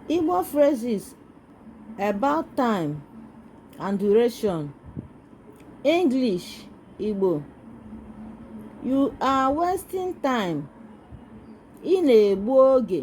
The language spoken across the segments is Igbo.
Igbo phrases about time and duration. English Igbo You are wasting time. Ị na-egbu oge.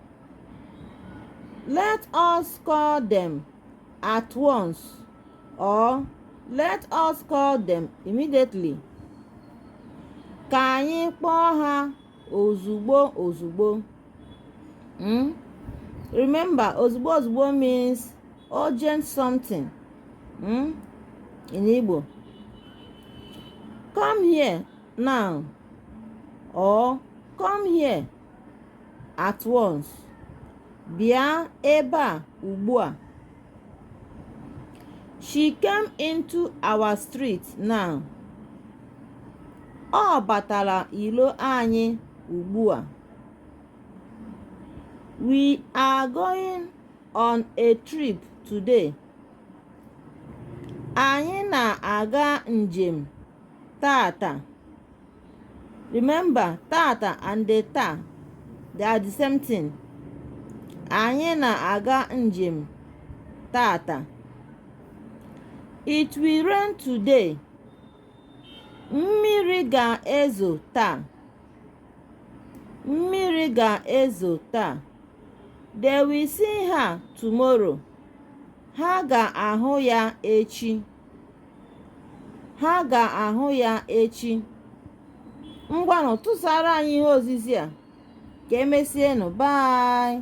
Let us call them at once or let us call them immediately. Ka anyị kpọọ ha ozugbo ozugbo. Hmm? Remember, ozugbo ozugbo means urgent something hmm? in Igbo. Come here now or come here at once bịa ebe a ugbu a she came into our street now ọ batara ilo anyị ugbu a we are going on a trip today anyị na-aga njem tata remember tata and the taa they are the same thing anyị na-aga njem tata it will rain today mmiri ga-ezo taa mmiri ga-ezo taa they will see her tomorrow ha ga-ahụ ya echi ha ga-ahụ ya echi ngwanụ tụsara anyị ihe ozizi a ka e mesie nụ bye